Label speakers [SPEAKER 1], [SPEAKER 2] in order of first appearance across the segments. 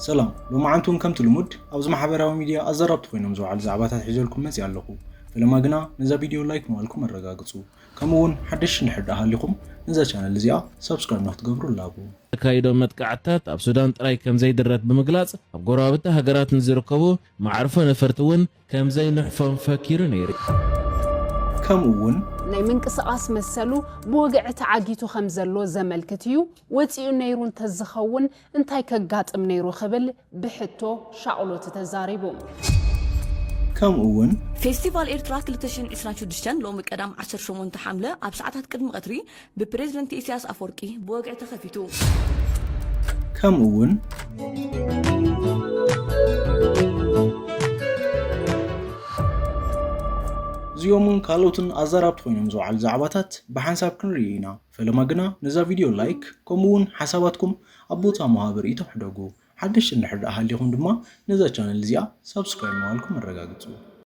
[SPEAKER 1] ሰላም ሎማዓንቲ እውን ከምቲ ልሙድ ኣብዚ ማሕበራዊ ሚድያ ኣዘራብቲ ኮይኖም ዝወዓሉ ዛዕባታት ሒዘልኩም መፂኣ ኣለኹ ፈለማ ግና ነዛ ቪድዮ ላይክ ምባልኩም ኣረጋግፁ ከምኡ እውን ሓደሽቲ እንድሕር ድኣ ሃሊኹም ነዛ ቻነል እዚኣ ሳብስክራይብ ንክትገብሩ እላቦ። ዘካይዶ መጥቃዕትታት
[SPEAKER 2] ኣብ ሱዳን ጥራይ ከምዘይድረት ብምግላጽ ኣብ ጎረባብቲ ሃገራት ንዝርከቡ መዓርፎ ነፈርቲ እውን ከም ዘይንሕፎም ፈኪሩ ነይሩ። ከምኡ
[SPEAKER 1] እውን። ናይ
[SPEAKER 3] ምንቅስቓስ መሰሉ ብወግዒ ተዓጊቱ ከም ዘሎ ዘመልክት እዩ፣ ወጺኡ ነይሩ እንተ ዝኸውን እንታይ ከጋጥም ነይሩ ክብል ብሕቶ ሻቕሎት ተዛሪቡ።
[SPEAKER 1] ከምኡ እውን። ፌስቲቫል
[SPEAKER 4] ኤርትራ ክልተ ሽሕን ዕስራን ሽዱሽተን ሎሚ ቀዳም ዓሰርተ ሸሞንተ ሓምለ ኣብ ሰዓታት ቅድሚ ቀትሪ ብፕሬዝደንት ኢሲያስ ኣፎርቂ ብወግዒ ተኸፊቱ። ከምኡ
[SPEAKER 1] ውን። እዚኦምን ካልኦትን ኣዛራብቲ ኮይኖም ዝውዓሉ ዛዕባታት ብሓንሳብ ክንርኢ ኢና። ፈለማ ግና ነዛ ቪድዮ ላይክ ከምኡ ውን ሓሳባትኩም ኣብ ቦታ ምሃብ ርእይቶ ሕደጉ። ሓደሽቲ እንድሕር ደኣ ሃሊኹም ድማ ነዛ ቻነል እዚኣ ሳብስክራይብ ምባልኩም ኣረጋግጹ።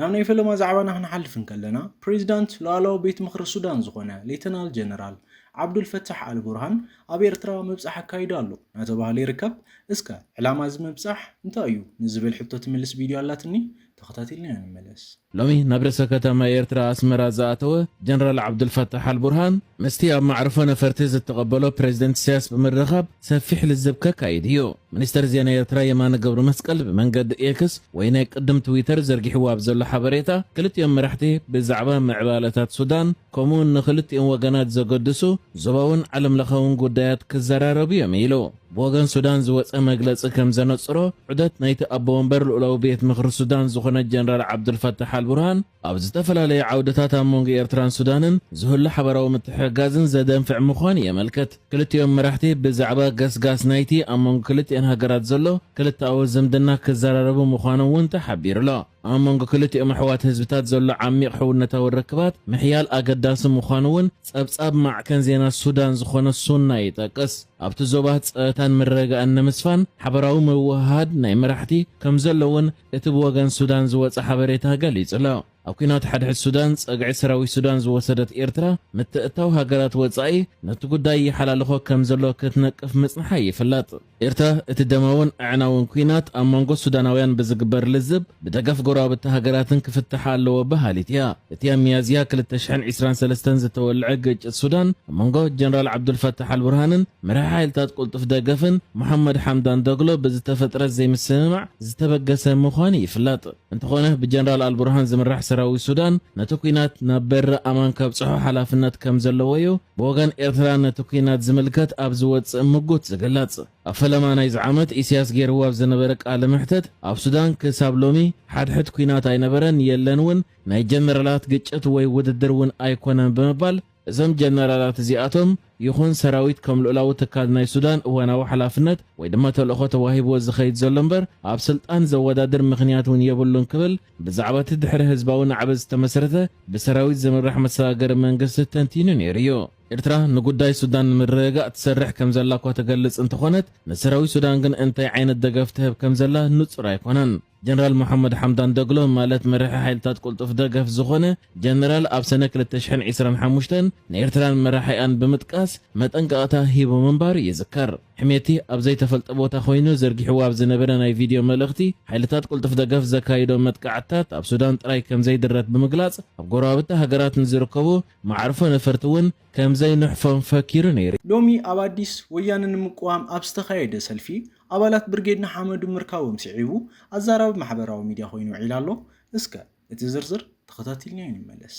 [SPEAKER 1] ናብ ናይ ፈለማ ዛዕባና ክንሓልፍ እንከለና፣ ፕሬዚዳንት ሉኣላዊ ቤት ምኽሪ ሱዳን ዝኾነ ሌተናል ጀነራል ዓብዱልፈታሕ ኣልቡርሃን ኣብ ኤርትራ ምብጻሕ ኣካይዱ ኣሎ ናተባህለ ይርከብ። እስከ ዕላማ እዚ ምብጻሕ እንታይ እዩ ንዝብል ሕቶ ትምልስ ቪድዮ ኣላትኒ ተኸታቲልናዮ ንመለስ። ሎሚ ናብ ርእሰ
[SPEAKER 2] ከተማ ኤርትራ ኣስመራ ዝኣተወ ጀነራል ዓብዱልፈታሕ ኣልቡርሃን ምስቲ ኣብ መዕርፎ ነፈርቲ ዝተቐበሎ ፕሬዚደንት ኢሳያስ ብምርኻብ ሰፊሕ ልዝብ ከካይድ እዩ። ሚኒስተር ዜና ኤርትራ የማነ ገብረመስቀል ብመንገዲ ኤክስ ወይ ናይ ቅድም ትዊተር ዘርጊሕዎ ኣብ ዘሎ ሓበሬታ፣ ክልቲኦም መራሕቲ ብዛዕባ ምዕባለታት ሱዳን ከምኡ'ውን ንኽልቲኦም ወገናት ዘገድሱ ዞባውን ዓለምለኻውን ጉዳያት ክዘራረቡ እዮም ኢሉ። ብወገን ሱዳን ዝወጸ መግለጺ ከም ዘነጽሮ፣ ዑደት ናይቲ ኣቦ ወንበር ልኡላዊ ቤት ምኽሪ ሱዳን ዝኾነ ጀነራል ዓብዱልፋታሕ ኣልቡርሃን፣ ኣብ ዝተፈላለዩ ዓውድታት ኣብ መንጎ ኤርትራን ሱዳንን ዝህሉ ሓበራዊ ምትሕግጋዝን ዘደንፍዕ ምዃኑ የመልክት። ክልቲኦም መራሕቲ ብዛዕባ ገስጋስ ናይቲ ኣብ መንጎ ክልቲኤን ሃገራት ዘሎ ክልተኣዊ ዝምድና ክዘራረቡ ምዃኖም እውን ተሓቢሩ'ሎ። ኣብ መንጎ ክልቲኦም ኣሕዋት ህዝብታት ዘሎ ዓሚቕ ሕውነታዊ ርክባት ምሕያል ኣገዳሲ ምዃኑ እውን ጸብጻብ ማዕከን ዜና ሱዳን ዝኾነ ሱና ይጠቅስ። ኣብቲ ዞባ ጸጥታን ምርርጋእን ንምስፋን ሓበራዊ ምውህሃድ ናይ መራሕቲ ከምዘሎ እውን እቲ ብወገን ሱዳን ዝወጸ ሓበሬታ ገሊጹ'ሎ። ኣብ ኲናት ሓድሕድ ሱዳን ጸግዒ ሰራዊት ሱዳን ዝወሰደት ኤርትራ፣ ምትእትታው ሃገራት ወጻኢ ነቲ ጉዳይ ይሓላልኾ ከም ዘሎ ክትነቅፍ ምጽንሓ ይፍለጥ። ኤርትራ፣ እቲ ደማውን ኣዕናውን ኲናት ኣብ መንጎ ሱዳናውያን ብዝግበር ልዝብ ብደገፍ ጎረባብቲ ሃገራትን ክፍታሕ ኣለዎ በሃሊት እያ። እቲ ኣብ ሚያዝያ ክልተ ሽሕን ዕስራን ሰለስተን ዝተወልዐ ግጭት ሱዳን፣ ኣብ መንጎ ጀነራል ዓብዱልፋታሕ ኣልቡርሃንን መራሒ ሓይልታት ቅልጡፍ ደገፍን ሞሓመድ ሓምዳን ዶግሎ ብዝተፈጥረ ዘይምስምማዕ፣ ዝተበገሰ ምዃኑ ይፍለጥ። እንተኾነ ብጀነራል ኣልቡርሃን ዝምራሕ ሰራዊት ሱዳን ነቲ ኲናት ናብ በሪ ኣማን ከብጽሖ ሓላፍነት ከም ዘለዎ'ዩ ብወገን ኤርትራ ነቲ ኲናት ዝምልከት ኣብ ዝወጽእ ምጉት ዝግለጽ። ኣብ ፈለማ ናይዚ ዓመት ኢሲያስ ገይርዎ ኣብ ዝነበረ ቃለ መሕተት ኣብ ሱዳን ክሳብ ሎሚ ሓድሕድ ኲናት ኣይነበረን የለን ውን ናይ ጀነራላት ግጭት ወይ ውድድር ውን ኣይኮነን ብምባል እዞም ጀነራላት እዚኣቶም ይኹን ሰራዊት ከም ልኡላዊ ትካል ናይ ሱዳን እዋናዊ ሓላፍነት ወይ ድማ ተልእኾ ተዋሂብዎ ዝኸይድ ዘሎ እምበር ኣብ ስልጣን ዘወዳድር ምኽንያት እውን የብሉን ክብል ብዛዕባቲ ድሕሪ ህዝባዊ ናዕቢ ዝተመስረተ ብሰራዊት ዝምራሕ መሰጋገሪ መንግስቲ ተንቲኑ ነይሩ እዩ። ኤርትራ ንጉዳይ ሱዳን ንምርግጋእ ትሰርሕ ከም ዘላ እኳ ትገልጽ እንተኾነት ንሰራዊት ሱዳን ግን እንታይ ዓይነት ደገፍ ትህብ ከም ዘላ ንጹር ኣይኮነን። ጀነራል ሞሓመድ ሓምዳን ደግሎ ማለት መራሒ ሓይልታት ቅልጡፍ ደገፍ ዝኾነ ጀነራል ኣብ ሰነ ክልተ ሽሕን ዒስራን ሓሙሽተን ንኤርትራን መራሒኣን ብምጥቃስ መጠንቀቕታ ሂቡ ምንባሩ ይዝከር። ሕሜቲ ኣብ ዘይተፈልጠ ቦታ ኮይኑ ዘርጊሕዎ ኣብ ዝነበረ ናይ ቪድዮ መልእኽቲ ሓይልታት ቅልጡፍ ደገፍ ዘካይዶ መጥቃዕትታት ኣብ ሱዳን ጥራይ ከምዘይድረት ብምግላጽ ኣብ ጎረባብቲ ሃገራት ንዝርከቡ መዓርፎ ነፈርቲ እውን ከምዘይንሕፎም ፈኪሩ ነይሩ። ሎሚ ኣብ ኣዲስ፣
[SPEAKER 1] ወያነ ንምቅዋም ኣብ ዝተኻየደ ሰልፊ፣ ኣባላት ብርጌድ ንሓመዱ ምርካቦም ስዒቡ ኣዛራቢ ማሕበራዊ ሚድያ ኮይኑ ውዒሉ ኣሎ። እስከ እቲ ዝርዝር ተኸታቲልናዮ ንመለስ።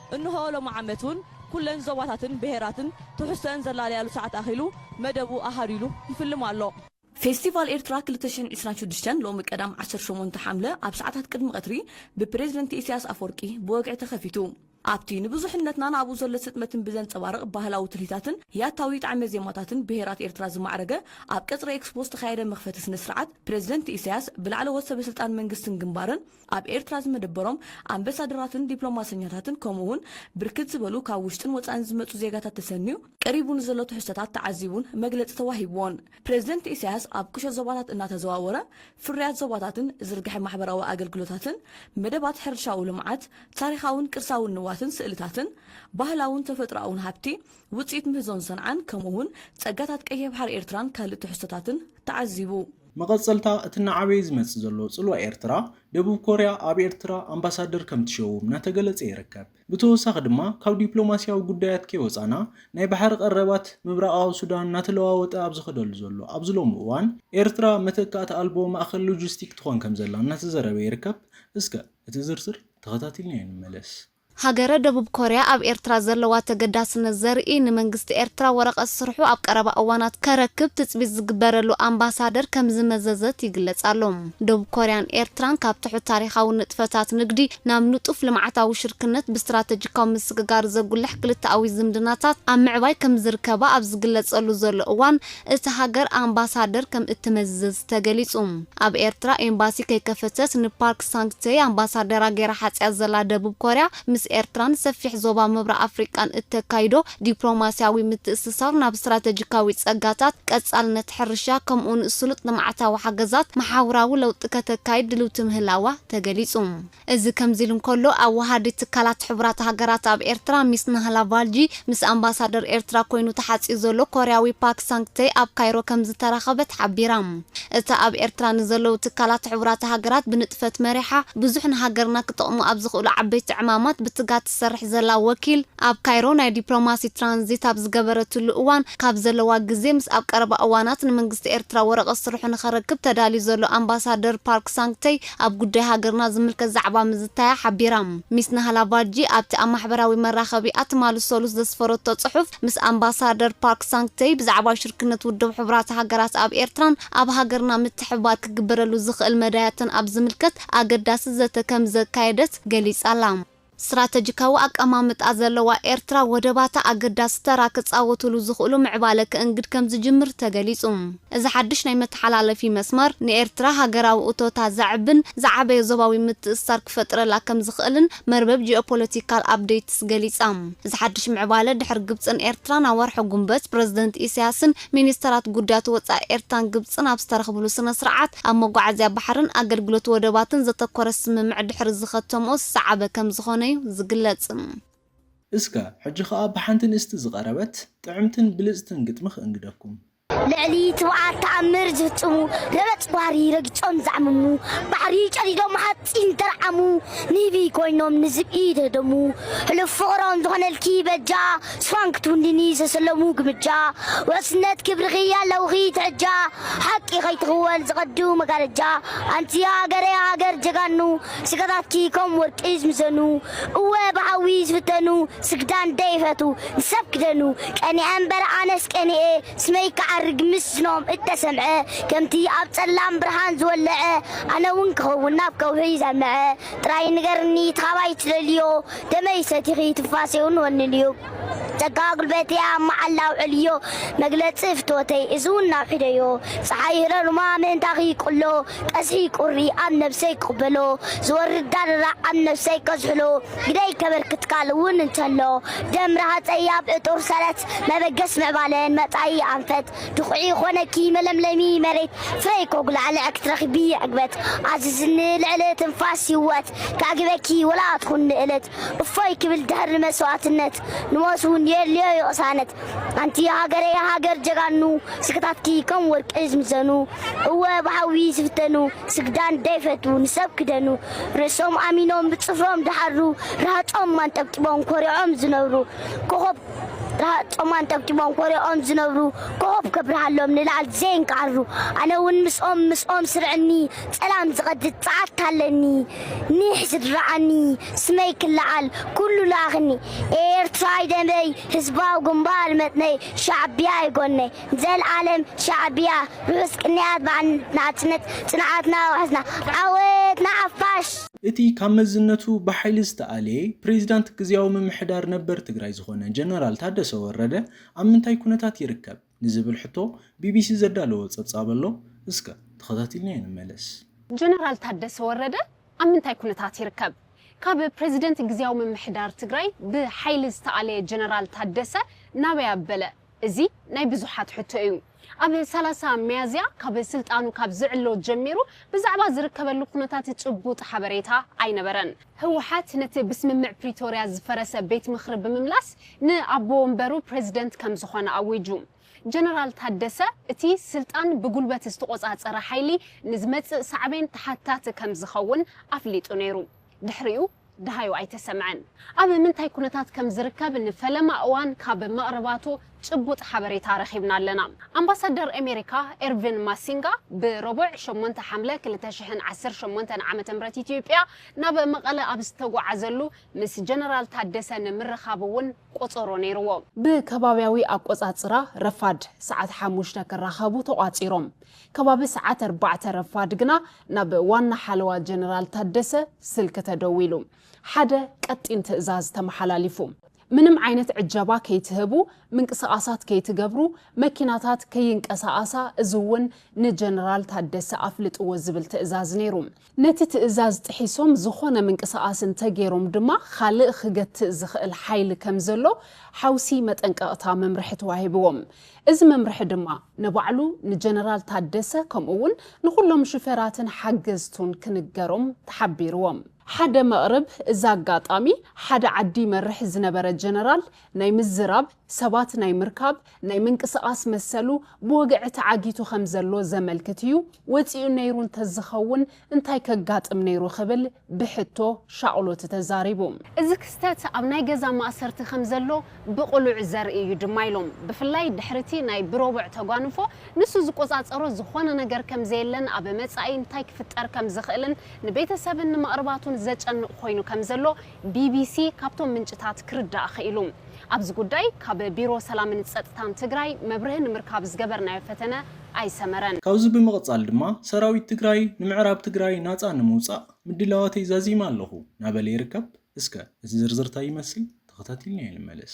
[SPEAKER 4] እንሆ ሎሚ ዓመት እውን ኩለን ዞባታትን ብሄራትን ትሕዝቶኣን ዘላለያሉ ሰዓት ኣኺሉ መደቡ ኣሃዱ ኢሉ ይፍልም ኣሎ። ፌስቲቫል ኤርትራ ክልተ ሽሕን ዕስራን ሽዱሽተን ሎሚ ቀዳም ዓሰርተ ሸሞንተ ሓምለ ኣብ ሰዓታት ቅድሚ ቀትሪ ብፕሬዝደንት ኢሰያስ ኣፍወርቂ ብወግዒ ተኸፊቱ። ኣብቲ ንብዙሕነትናን ኣብኡ ዘሎ ስጥመትን ብዘንጸባርቕ ባህላዊ ትልሂታትን ያታዊ ጣዕመ ዜማታትን ብሄራት ኤርትራ ዝማዕረገ ኣብ ቀጽሪ ኤክስፖ ዝተኻየደ መኽፈቲ ስነ-ስርዓት ፕሬዝደንት ኢሰያስ ብላዕለዎት ሰበ-ስልጣን መንግስትን ግንባርን ኣብ ኤርትራ ዝመደበሮም ኣምበሳደራትን ዲፕሎማሰኛታትን ከምኡ'ውን ብርክት ዝበሉ ካብ ውሽጥን ወጻእን ዝመጹ ዜጋታት ተሰንዩ ቀሪቡ ንዘሎ ትሕዝቶታት ተዓዚቡን መግለጺ ተዋሂብዎን። ፕረዚደንት ኢሳያስ ኣብ ቁሸት ዞባታት እናተዘዋወረ ፍርያት ዞባታትን ዝርግሐ ማሕበራዊ ኣገልግሎታትን፣ መደባት ሕርሻዊ ልምዓት፣ ታሪኻውን ቅርሳውን ንዋትን ስእልታትን፣ ባህላውን ተፈጥሮኣውን ሃብቲ፣ ውጽኢት ምህዞን ሰንዓን ከምኡ'ውን ጸጋታት ቀይሕ ባሕሪ ኤርትራን ካልእ ትሕዝቶታትን ተዓዚቡ። መቐጸልታ
[SPEAKER 1] እቲ እናዓበየ ዝመጽእ ዘሎ ጽልዋ ኤርትራ፣ ደቡብ ኮርያ ኣብ ኤርትራ ኣምባሳደር ከም ትሸውም እናተገለጸ ይርከብ። ብተወሳኺ ድማ ካብ ዲፕሎማስያዊ ጉዳያት ከይወጻና፣ ናይ ባሕሪ ቀረባት ምብራቓዊ ሱዳን እናተለዋወጠ ኣብ ዝኸደሉ ዘሎ ኣብዚ ሎሚ እዋን፣ ኤርትራ መተካእታ ኣልቦ ማእከል ሎጂስቲክ ትኾን ከም ዘላ እናተዘረበ ይርከብ። እስከ እቲ ዝርዝር ተኸታቲልናዮ ንመለስ። ሃገረ ደቡብ
[SPEAKER 5] ኮርያ ኣብ ኤርትራ ዘለዋ ተገዳስነት ዘርኢ ንመንግስቲ ኤርትራ ወረቐት ስርሑ ኣብ ቀረባ እዋናት ከረክብ ትጽቢት ዝግበረሉ ኣምባሳደር ከምዝመዘዘት ይግለጽ ኣሎ። ደቡብ ኮርያን ኤርትራን ካብ ትሑት ታሪኻዊ ንጥፈታት ንግዲ ናብ ንጡፍ ልምዓታዊ ሽርክነት ብስትራተጂካዊ ምስግጋር ዘጉልሕ ክልተኣዊ ዝምድናታት ኣብ ምዕባይ ከምዝርከባ ኣብ ዝግለጸሉ ዘሎ እዋን፣ እታ ሃገር ኣምባሳደር ከም እትመዝዝ ተገሊጹ። ኣብ ኤርትራ ኤምባሲ ከይከፈተት ንፓርክ ሳንግ-ቴይ ኣምባሳደራ ገይራ ሓጺኣ ዘላ ደቡብ ኮርያ፣ ምስ ኤርትራን ሰፊሕ ዞባ ምብራቕ ኣፍሪቃን እተካይዶ ዲፕሎማስያዊ ምትእስሳር ናብ ስትራተጂካዊ ጸጋታት፣ ቀጻልነት ሕርሻ፣ ከምኡ'ውን ስሉጥ ልምዓታዊ ሓገዛት፣ መሓውራዊ ለውጢ ከተካይድ ድልውቲ ምህላዋ ተገሊጹ። እዚ ከምዚሉ እንከሎ፣ ኣወሃሃዲ ትካላት ሕቡራት ሃገራት ኣብ ኤርትራ ሚስ ናህላ ቫልጂ ምስ ኣምባሳደር ኤርትራ ኮይኑ ተሓጽዩ ዘሎ ኮርያዊ ፓክ ሳንግ ተይ ኣብ ካይሮ ከምዝተራኸበት ሓቢራ። እታ ኣብ ኤርትራ ንዘለዉ ትካላት ሕቡራት ሃገራት ብንጥፈት መሪሓ ብዙሕ ንሃገርና ክጠቕሙ ኣብ ዝኽእሉ ዓበይቲ ዕማማት ብትጋ ትሰርሕ ዘላ ወኪል ኣብ ካይሮ ናይ ዲፕሎማሲ ትራንዚት ኣብ ዝገበረትሉ እዋን ካብ ዘለዋ ግዜ ምስ ኣብ ቀረባ እዋናት ንመንግስቲ ኤርትራ ወረቐት ስርሑ ንኸረክብ ተዳልዩ ዘሎ ኣምባሳደር ፓርክ ሳንግ ተይ ኣብ ጉዳይ ሃገርና ዝምልከት ዛዕባ ምዝታያ ሓቢራ። ሚስ ናህላ ቫርጂ ኣብቲ ኣብ ማሕበራዊ መራኸቢኣ ትማሊ ሰሉስ ዘስፈረቶ ጽሑፍ፣ ምስ ኣምባሳደር ፓርክ ሳንግ-ተይ ብዛዕባ ሽርክነት ውድብ ሕቡራት ሃገራት ኣብ ኤርትራን ኣብ ሃገርና ምትሕብባር ክግበረሉ ዝኽእል መዳያትን ኣብ ዝምልከት ኣገዳሲ ዘተ ከምዘካየደት ገሊጻ'ላ። ስትራተጂካዊ ኣቀማምጣ ዘለዋ ኤርትራ፣ ወደባታ ኣገዳሲ ተራ ክጻወቱሉ ዝኽእሉ ምዕባለ ከእንግድ ከም ዝጅምር ተገሊጹ። እዚ ሓድሽ ናይ መተሓላለፊ መስመር፣ ንኤርትራ ሃገራዊ እቶታ ዘዕብን ዝዓበየ ዞባዊ ምትእስሳር ክፈጥረላ ከም ዝኽእልን መርበብ ጂኦፖለቲካል ኣፕደይትስ ገሊጻ። እዚ ሓድሽ ምዕባለ፣ ድሕሪ ግብጽን ኤርትራን ኣብ ወርሒ ጉንበት ፕረዚደንት ኢሳያስን ሚኒስተራት ጉዳያት ወጻኢ ኤርትራን ግብጽን ኣብ ዝተረኽብሉ ስነ-ስርዓት፣ ኣብ መጓዓዝያ ባሕርን ኣገልግሎት ወደባትን ዘተኮረ ስምምዕ ድሕሪ ዝኸተምኦ ዝሰዓበ ከምዝኾነ'ዩ ዝግለጽ።
[SPEAKER 1] እስከ ሕጂ ከኣ ብሓንቲ ንእስቲ ዝቐረበት ጥዕምትን ብልጽትን ግጥሚ ክእንግደኩም። ልዕሊ
[SPEAKER 6] ትብዓት ተኣምር ዝፍጽሙ፣ ረበጽ ባህሪ ረጊጾም ዘዕምሙ፣ ባሕሪ ጨዲዶም ጺም ጠርዓሙ ንህቢ ኮይኖም ንዝብኢ ዝህደሙ ሕሉፍ ፍቕሮም ዝኾነልኪ በጃ ስፋን ክትውንኒ ዝተሰለሙ ግምጃ ውሕስነት ክብርኺ ኣለውኺ ትሕጃ ሓቂ ከይትኽወል ዝቐዱ መጋረጃ ኣንቲ ሃገረይ ሃገር ጀጋኑ ስጋታትኪ ከም ወርቂ ዝምዘኑ እወ ብሓዊ ዝፍተኑ ስግዳን ደይፈቱ ንሰብ ክደኑ ቀኒዐ እምበር ኣነስ ቀኒኤ ስመይ ክዓርግ ምስዝኖም እተሰምዐ ከምቲ ኣብ ጸላም ብርሃን ዝወለዐ ኣነ ውን ክኸውን ናብ ከውሒ ዘልመዐ ጥራይ ንገርኒ እቲ ካባይ ትደልዮ ደመይ ሰቲኺ ትንፋሰይ ውን ወንንዮ ጸጋ ጉልበተይ ኣብ መዓላ ኣውዕልዮ መግለጺ ፍትወተይ እዚ ውን ኣውሒደዮ ጸሓይ ህረሩማ ምእንታኺ ይቅሎ ቀዝሒ ቁሪ ኣብ ነብሰይ ክቅበሎ ዝወርድ ዳርራዕ ኣብ ነብሰይ ከዝሕሎ ግደይ ከበርክት ቃል እውን እንተሎ ደምረ ሃፀይ ኣብ እጡር ሰረት መበገስ ምዕባለን መፃኢ ኣንፈት ድኹዒ ይኾነኪ መለምለሚ መሬት ፍረይ ኮጉላዕልዐ ክትረኽቢ ዕግበት ኣዝዝኒ ልዕሊ ትንፋስ ህወት ከዕግበኪ ወላ ኣትኹን ንእለት እፎይ ክብል ድሕር ንመስዋእትነት ንሞት እውን የድልዮ ዩ ቅሳነት ኣንቲ ሃገረይ ሃገር ጀጋኑ ስክታትኪ ከም ወርቂ ዝምዘኑ እወ ብሓዊ ዝፍተኑ ስግዳን ደይፈቱ ንሰብ ክደኑ ርእሶም ኣሚኖም ብጽፍሮም ድሓሩ ርሃጾም ኣንጠብጢቦም ኮሪዖም ዝነብሩ ኮኾብ ርሃጾም ኣንጠብጢቦም ኮሪዖም ዝነብሩ ኮኾብ ከብርሃሎም ንላዕል ዘይንክዓሩ ኣነ ውን ምስኦም ምስኦም ስርዕኒ ጸላም ዝቐድድ ጸዓት ኣለኒ ኒሕ ዝድርዓኒ ስመይ ክለዓል ኩሉ ልኣኽኒ ኤርትራይ ደመይ ህዝባዊ ግንባር መትነይ ሻዕቢያይ ጎነይ ዘልኣለም ሻዕቢያ ርሑስ ቅንያት በዓል ናጽነት ጽንዓትና ኣውሕስና ዓወት ንሓፋሽ! እቲ ካብ
[SPEAKER 1] መዝነቱ ብሓይሊ ዝተኣልየ ፕሬዚዳንት ግዝያዊ ምምሕዳር ነበር ትግራይ ዝኾነ ጀነራል ታደሰ ወረደ ኣብ ምንታይ ኩነታት ይርከብ ንዝብል ሕቶ ቢቢሲ ዘዳለዎ ፀብፃብ ኣሎ። እስከ ተኸታቲልናዮ ንመለስ። ጀነራል
[SPEAKER 3] ታደሰ ወረደ ኣብ ምንታይ ኩነታት ይርከብ? ካብ ፕሬዚደንት ግዝያዊ ምምሕዳር ትግራይ ብሓይሊ ዝተኣለየ ጀነራል ታደሰ ናበይ ኣበለ? እዚ ናይ ብዙሓት ሕቶ እዩ። ኣብ ሰላሳ ሚያዝያ ካብ ስልጣኑ ካብ ዝዕሎ ጀሚሩ ብዛዕባ ዝርከበሉ ኩነታት ጭቡጥ ሓበሬታ ኣይነበረን። ህወሓት ነቲ ብስምምዕ ፕሪቶርያ ዝፈረሰ ቤት ምኽሪ ብምምላስ ንኣቦ ወንበሩ ፕረዚደንት ከም ዝኾነ ኣዊጁ። ጀነራል ታደሰ እቲ ስልጣን ብጉልበት ዝተቖፃፀረ ሓይሊ ንዝመፅእ ሳዕቤን ተሓታቲ ከም ዝኸውን ኣፍሊጡ ነይሩ። ድሕሪኡ። ደሃዩ ኣይተሰምዐን። ኣብ ምንታይ ኩነታት ከም ዝርከብ ንፈለማ እዋን ካብ መቕርባቱ ጭቡጥ ሓበሬታ ረኺብና ኣለና። ኣምባሳደር ኣሜሪካ ኤርቪን ማሲንጋ ብሮቡዕ ሸሞንተ ሓምለ ክልተ ሽሕን ዓሰርተ ሸሞንተን ዓመተ ምህረት ኢትዮጵያ ናብ መቐለ ኣብ ዝተጓዓዘሉ ምስ ጀነራል ታደሰ ንምርኻብ እውን ቆፀሮ ነይርዎ። ብከባብያዊ ኣቆፃፅራ ረፋድ ሰዓት ሓሙሽተ ክራኸቡ ተቋፂሮም። ከባቢ ሰዓት ኣርባዕተ ረፋድ ግና ናብ ዋና ሓለዋ ጀነራል ታደሰ ስልኪ ተደዊሉ ሓደ ቀጢን ትእዛዝ ተመሓላሊፉ። ምንም ዓይነት ዕጀባ ከይትህቡ፣ ምንቅስቓሳት ከይትገብሩ፣ መኪናታት ከይንቀሳቐሳ እዚ'ውን ንጀነራል ታደሰ ኣፍልጥዎ ዝብል ትእዛዝ ነይሩ። ነቲ ትእዛዝ ጥሒሶም ዝኾነ ምንቅስቓስ እንተገይሮም ድማ ኻልእ ኽገትእ ዝኽእል ሓይሊ ከም ዘሎ ሓውሲ መጠንቀቕታ መምርሒ ተዋሂብዎም። እዚ መምርሒ ድማ ንባዕሉ ንጀነራል ታደሰ ከምኡ'ውን ንኹሎም ሹፌራትን ሓገዝቱን ክንገሮም ተሓቢርዎም። ሓደ መቕርብ እዚ ኣጋጣሚ ሓደ ዓዲ ይመርሕ ዝነበረ ጀነራል ናይ ምዝራብ፣ ሰባት ናይ ምርካብ፣ ናይ ምንቅስቓስ መሰሉ ብወግዒ ተዓጊቱ ከም ዘሎ ዘመልክት እዩ፣ ወጺኡ ነይሩ እንተዝኸውን እንታይ ከጋጥም ነይሩ ክብል ብሕቶ ሻቕሎት ተዛሪቡ። እዚ ክስተት ኣብ ናይ ገዛ ማእሰርቲ ከም ዘሎ ብቕሉዕ ዘርኢ እዩ ድማ ኢሎም። ብፍላይ ድሕሪ እቲ ናይ ብረቡዕ ተጓንፎ ንሱ ዝቆጻጸሮ ዝኾነ ነገር ከም ዘየለን ኣብ መጻኢ እንታይ ክፍጠር ከም ዝኽእልን ንቤተሰብን ንመቕርባቱን ዘጨንቕ ኮይኑ ከም ዘሎ ቢቢሲ ካብቶም ምንጭታት ክርዳእ ክኢሉ። ኣብዚ ጉዳይ ካብ ቢሮ ሰላምን ፀጥታን ትግራይ መብርሂ ንምርካብ ዝገበርናዮ ፈተነ ኣይሰመረን። ካብዚ ብምቕፃል
[SPEAKER 1] ድማ ሰራዊት ትግራይ ንምዕራብ ትግራይ ናፃ ንምውፃእ ምድላዋተይ ዛዚመ ኣለኹ ናበለ ይርከብ። እስከ እቲ ዝርዝር ታይ ይመስል ተኸታቲልናዮ ንመለስ።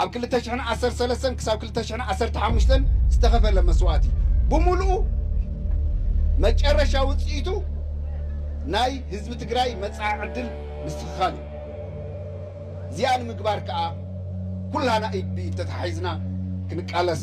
[SPEAKER 7] ኣብ ክልተ ሽሕን ዓሰርተ ሰለስተን ክሳብ ክልተ ሽሕን ዓሰርተ ሓሙሽተን ዝተኸፈለ መስዋእቲ ብምሉኡ መጨረሻ ውፅኢቱ ናይ ህዝቢ ትግራይ መፃኢ ዕድል ምስትኽኻል እዩ። እዚኣ ንምግባር ከዓ ኩላህና ኢድ ብኢድ ተተሓሒዝና ክንቃለስ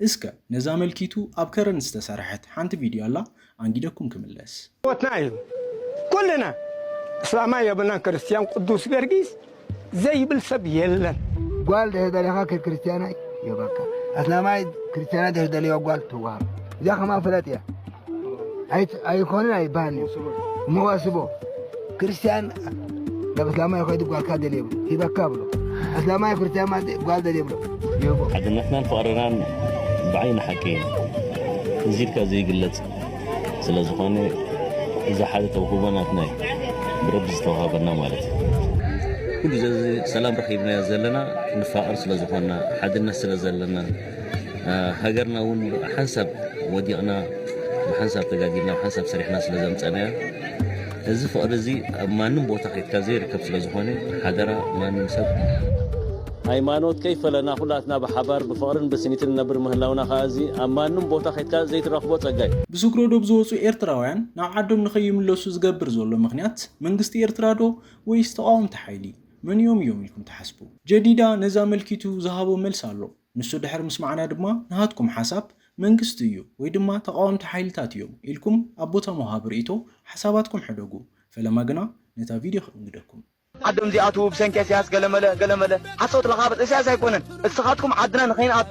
[SPEAKER 1] እስከ ነዛ መልኪቱ ኣብ ከረን ዝተሰርሐት ሓንቲ ቪድዮ ኣላ ኣንጊደኩም ክምለስ። ሞትና እዩ
[SPEAKER 8] ኩልና እስላማይ የብልናን ክርስትያን ቅዱስ ገርጊስ ዘይብል ሰብ የለን። ጓል ድሕሪ
[SPEAKER 9] ደሊኻ ክርክርስትያናይ ይህበካ ኣስላማይ ክርስትያናይ ድሕሪ ደልዮ ጓል ትወሃብ እዚኣ ከማ ፍለጥ እያ። ኣይኮነን ኣይበሃልን እዩ መዋስቦ ክርስትያን ናብ እስላማይ ከይዱ ጓልካ ደል የብሉ ሂበካ ብሎ እስላማይ ክርስትያን ማለት ጓል ደል የብሎ ይህቦ ሓድነትናን
[SPEAKER 10] ፍቕርናን ብዓይኒ ሓቂ እዚ ኢልካ ዘይግለጽ ስለ ዝኾነ እዚ ሓደ ተውህቦ ናትና እዩ ብረቢ ዝተዋሃበና ማለት እዩ ኩሉ ዘዚ ሰላም ረኺብናዮ ዘለና ንፋቐር ስለ ዝኾንና ሓድነት ስለ ዘለና ሃገርና ውን ብሓንሳብ ወዲቕና ብሓንሳብ ተጋጊና ብሓንሳብ ሰሪሕና ስለ ዘምጸእናያ እዚ ፍቕሪ እዚ ኣብ ማንም ቦታ ከይድካ ዘይርከብ ስለ ዝኾነ ሓደራ ማንም ሰብ ሃይማኖት ከይፈለና ኩላትና ብሓባር ብፍቕርን ብስኒትን ንነብር ምህላውና ከኣ እዚ ኣብ ማንም ቦታ ከይድካ ዘይትረኽቦ ጸጋ እዩ። ብስግረ ዶብ ዝወጹ
[SPEAKER 1] ኤርትራውያን ናብ ዓዶም ንከይምለሱ ዝገብር ዘሎ ምኽንያት መንግስቲ ኤርትራ ዶ ወይስ ተቓወምቲ ሓይሊ? መንዮም እዮም ኢልኩም ትሓስቡ? ጀዲዳ ነዚ ኣመልኪቱ ዝሃቦ መልሲ ኣሎ። ንሱ ድሕሪ ምስማዕና ድማ ንሃትኩም ሓሳብ፣ መንግስቲ እዩ ወይ ድማ ተቓወምቲ ሓይልታት እዮም ኢልኩም ኣብ ቦታ ምውሃብ ርእይቶ ሓሳባትኩም ሕደጉ። ፈለማ ግና ነታ ቪድዮ ከእንግደኩም። ዓዶም ዚኣትዉ
[SPEAKER 11] ብሰንኪ እስያስ ገለመለ ገለመለ ሓሶት ለኻብጥ እስያስ ኣይኮነን እስኻትኩም ዓድና ንኸይንኣቱ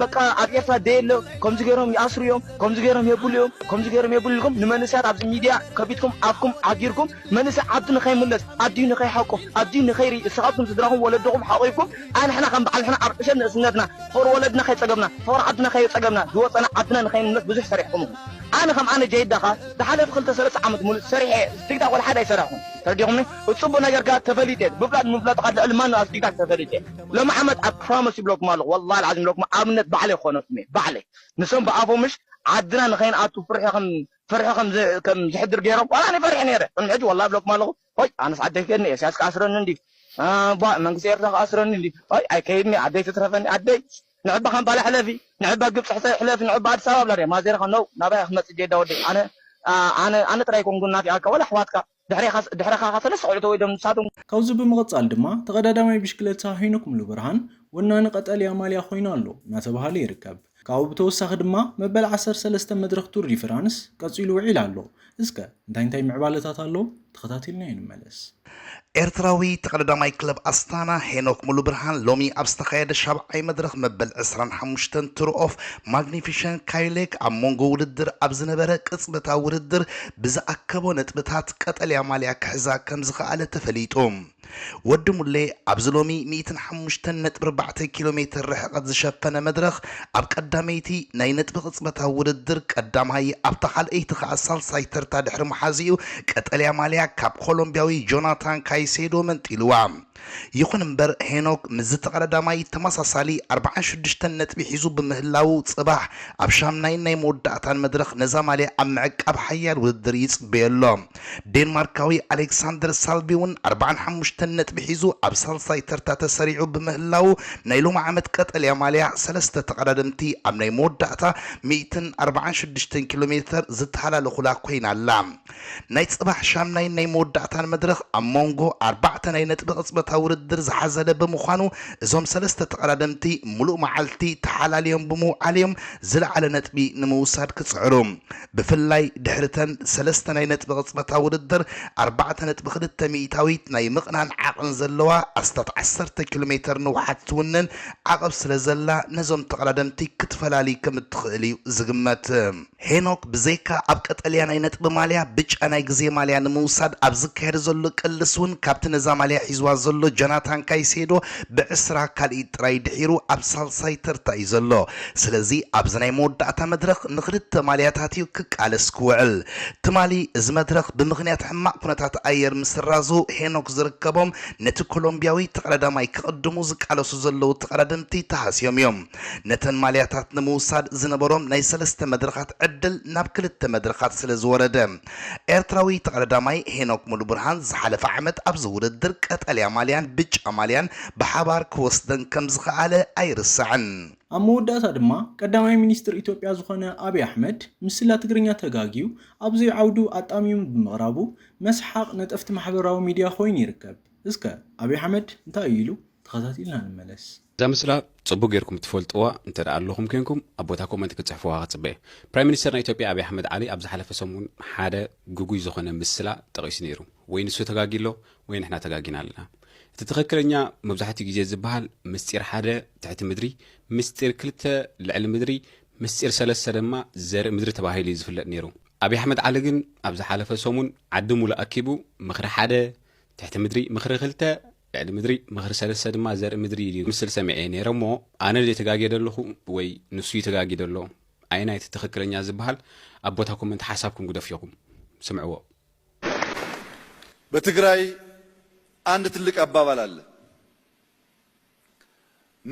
[SPEAKER 11] በቃ ኣብ ኤርትራ ደየለ ከምዚ ገይሮም ይኣስሩ እዮም ከምዚ ገይሮም የብሉ እዮም ከምዚ ገይሮም የብሉ ኢልኩም ንመንእሰያት ኣብዚ ሚድያ ከቢድኩም ኣፍኩም ዓጊርኩም መንእሰይ ዓዱ ንኸይምለስ፣ ኣዲኡ ንኸይሓቁፍ፣ ኣዲኡ ንኸይርኢ፣ እስኻትኩም ስድራኹም ወለድኹም ሓቑፍኩም ኣንሕና ከም በዓል ንሕና ኣብ ዕሸል ንእስነትና ፍቕሪ ወለድና ከይጸገብና፣ ፍቕሪ ዓድና ከየጸገብና፣ ዝወጸና ዓድና ንኸይንምለስ ብዙሕ ሰሪሕኩም ኢኹም። ኣነ ከም ኣነ ጀይዳ ከኣ ዝሓለፈ ክልተ ሰለስተ ዓመት ምሉእ ሰሪሐ እየ፣ ቲክታክ ወላ ሓደ ኣይሰራሕኹን። ተረዲኹምኒ? እቲ ጽቡቕ ነገር ከኣ ተፈሊጠ እየ፣ ብፍላጥ ምፍላጥ ከኣ ልዕሊ ማንም ኣብ ቲክታክ ተፈሊጠ እየ። ሎሚ ዓመት ኣብ ፕሮሞስ ይብለኩም ኣለኹ፣ ወላሂ ኣልዓዚም ንብለኩም ኣብነት ባዕለይ ክኾነኩም እየ፣ ባዕለይ። ንሶም ብኣፎም ምሽ ዓድና ንኸይንኣቱ ፍርሒ ከም ፍርሒ ከም ዝሕድር ገይሮም ዋላ ኣነ ፈሪሐ ነይረ ቅድሚ ሕጂ ዋላ እብለኩም ኣለኹ ሆይ ኣነስ ዓደይ ክከድኒ ኤስያስ ክኣስረኒ እንድዩ ኣባ መንግስቲ ኤርትራ ክኣስረኒ እንድዩ ሆይ ኣይከይድኒ ዓደይ ትትረፈኒ ዓደይ ንዕባ ካምፓላ ሕለፊ ንዕባ ግብጺ ሕሰ ሕለፊ ንዕባ ኣዲስ ኣበባ ብላ ድያ ማዜርኻ ነው ናባይ ክትመጽእ ጄዳ ወደይ ኣነ ኣነ ኣነ ጥራይ ኮንኩ እናፊኣካ ወላ ኣሕዋትካ ድሕሬኻ ድሕረኻኻ ሰለስተ ቆልዑ ተወሊዶም ንሳቶም። ካብዚ ብምቕጻል
[SPEAKER 1] ድማ ተቐዳዳማይ ብሽክለታ ሄኖክ ሙሉብርሃን ወናኒ ቀጠልያ ማልያ ኮይኑ ኣሎ እናተብሃለ ይርከብ። ካብኡ ብተወሳኺ ድማ መበል ዓሰርተ ሰለስተ መድረኽ ቱር ዲ ፍራንስ ቀጺሉ ውዒል ኣሎ። እስከ እንታይ እንታይ ምዕባለታት ኣሎ ተኸታቲልናዮ ንመለስ። ኤርትራዊ
[SPEAKER 12] ተቐዳዳማይ ክለብ ኣስታና ሄኖክ ሙሉብርሃን ሎሚ ኣብ ዝተኻየደ ሻብዓይ መድረኽ መበል ዕስራን ሓሙሽተን ቱር ኦፍ ማግኒፊሸን ካይሌክ ኣብ ሞንጎ ውድድር ኣብ ዝነበረ ቅጽበታዊ ውድድር ብዝኣከቦ ነጥብታት ቀጠልያ ማልያ ክሕዛ ከምዝኸኣለ ተፈሊጡ። ወዲ ሙሌ ኣብዚ ሎሚ ሚእትን ሓሙሽተን ነጥቢ ኣርባዕተ ኪሎ ሜተር ርሕቐት ዝሸፈነ መድረኽ ኣብ ቀዳመይቲ ናይ ነጥቢ ቅጽበታዊ ውድድር ቀዳማይ ኣብታ ካልኣይቲ ከኣ ሳልሳይ ተርታ ድሕሪ ምሓዙ'ዩ ቀጠልያ ማልያ ካብ ኮሎምብያዊ ጆናታን ካይሴዶ መንጢሉዋ። ይኹን እምበር ሄኖግ ምስ ዝተቐዳዳማይ ተመሳሳሊ ኣርብዓን ሽዱሽተን ነጥቢ ሒዙ ብምህላዉ ጽባሕ ኣብ ሻምናይን ናይ መወዳእታን መድረኽ ነዛ ማልያ ኣብ ምዕቃብ ሓያል ውድድር ይጽበዮ ኣሎ። ዴንማርካዊ ኣሌክሳንደር ሳልቪ'ውን ኣርብዓን ሓሙሽተን ነጥቢ ሒዙ ኣብ ሳልሳይ ተርታ ተሰሪዑ ብምህላዉ ናይ ሎሚ ዓመት ቀጠልያ ማልያ ሰለስተ ተቐዳደምቲ ኣብ ናይ መወዳእታ ሚእትን ኣርብዓን ሽዱሽተን ኪሎሜተር ዝተሃላለኹላ ኮይና ኣላ። ናይ ጽባሕ ሻምናይን ናይ መወዳእታን መድረኽ ኣብ ሞንጎ ኣርባዕተ ናይ ነጥቢ ቅጽበታዊ ውድድር ዝሓዘለ ብምዃኑ እዞም ሰለስተ ተቐዳደምቲ ምሉእ መዓልቲ ተሓላልዮም ብምውዓል'ዮም ዝለዓለ ነጥቢ ንምውሳድ ክጽዕሩ ብፍላይ ድሕሪ'ተን ሰለስተ ናይ ነጥቢ ቅጽበታዊ ውድድር ኣርባዕተ ነጥቢ ክልተ ሚኢታዊት ናይ ምቕናን ዓቕን ዘለዋ ኣስታት ዓሰርተ ኪሎሜተር ንውሓት ትውንን ዓቕብ ስለዘላ ነዞም ተቐዳደምቲ ክትፈላሊ ከምእትኽእል'ዩ ዝግመት። ሄኖክ ብዘይካ ኣብ ቀጠልያ ናይ ነጥቢ ማልያ፣ ብጫ ናይ ግዜ ማልያ ንምውሳድ ኣብ ዝካየድ ዘሎ ቅልስ ውን ካብቲ ነዛ ማልያ ሒዝዋ ዘሎ ጆናታን ካይሴዶ ብዕስራ ካልኢት ጥራይ ድሒሩ ኣብ ሳልሳይ ተርታ እዩ ዘሎ። ስለዚ ኣብዚ ናይ መወዳእታ መድረኽ ንኽልተ ማልያታት እዩ ክቃለስ ክውዕል። ትማሊ እዚ መድረኽ ብምኽንያት ሕማቕ ኩነታት ኣየር ምስራዙ ሄኖክ ዝርከቦም ነቲ ኮሎምብያዊ ተቐዳዳማይ ክቕድሙ ዝቃለሱ ዘለዉ ተቐዳደምቲ ተሃስዮም እዮም። ነተን ማልያታት ንምውሳድ ዝነበሮም ናይ ሰለስተ መድረኻት ዕድል ናብ ክልተ መድረኻት ስለዝወረደ፣ ኤርትራዊ ተቐዳዳማይ ሄኖክ ሙሉብርሃን ዝሓለፈ ዓመት ኣብዚ ውድድር ቀጠልያ ማልያን ብጫ ማልያን ብሓባር ክወስደን ከምዝኸኣለ ኣይርሳዕን። ኣብ መወዳእታ
[SPEAKER 1] ድማ ቀዳማይ ሚኒስትር ኢትዮጵያ ዝኾነ ኣብይ ኣሕመድ ምስላ ትግርኛ ተጋግዩ ኣብ ዘይዓውዱ ኣጣሚሙ ብምቕራቡ መስሓቕ ነጠፍቲ ማሕበራዊ ሚድያ ኮይኑ ይርከብ። እስከ ኣብይ ኣሕመድ እንታይ እዩ ኢሉ? ተኸታቲልና ንመለስ። እዛ ምስላ
[SPEAKER 13] ጽቡቅ ጌርኩም ትፈልጥዋ እንተ ኣለኹም ኴንኩም ኣብ ቦታ ኮመንት ክትጽሕፍዋ ክጽበ እየ። ፕራይም ሚኒስተር ናይ ኢትዮጵያ ኣብይ ኣሕመድ ዓሊ ኣብ ዝሓለፈ ሰሙን ሓደ ግጉይ ዝኾነ ምስላ ጠቒሱ ነይሩ። ወይ ንሱ ተጋግዩ ኣሎ ወይ ንሕና ተጋጊና ኣለና። እቲ ትኽክለኛ መብዛሕትኡ ግዜ ዝበሃል ምስጢር ሓደ ትሕቲ ምድሪ፣ ምስጢር ክልተ ልዕሊ ምድሪ፣ ምስጢር ሰለስተ ድማ ዘርኢ ምድሪ ተባሂሉ እዩ ዝፍለጥ ነይሩ። ኣብይ ኣሕመድ ዓሊ ግን ኣብ ዝሓለፈ ሰሙን ዓዲ ሙሉእ ኣኪቡ ምኽሪ ሓደ ትሕቲ ምድሪ፣ ምኽሪ ክልተ ልዕሊ ምድሪ ምኽሪ ሰለስተ ድማ ዘርኢ ምድሪ ኢሉ ምስል ሰሚዐ ነይረ እሞ ኣነ ድየ ተጋግየ ደለኹ ወይ ንሱ እዩ ተጋግዩ ደሎ ኣየናይ እቲ ትኽክለኛ ዝብሃል ኣብ ቦታ ኮመንት ሓሳብኩም ግደፉ ኢኹም ስምዕዎ።
[SPEAKER 14] በትግራይ አንድ ትልቅ አባባል አለ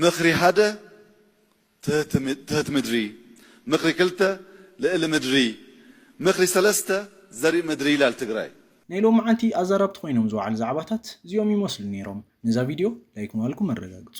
[SPEAKER 14] ምኽሪ ሓደ፣ ትህቲ ምድሪ፣ ምኽሪ ክልተ፣ ልእሊ ምድሪ፣ ምኽሪ ሰለስተ፣ ዘሪእ ምድሪ ይላል ትግራይ። ናይ ሎምዓንቲ
[SPEAKER 1] ኣዛራብቲ ኮይኖም ዝወዓሉ ዛዕባታት እዚኦም ይመስሉ ነይሮም። ነዛ ቪድዮ ላይክ ምባልኩም ኣረጋግፁ።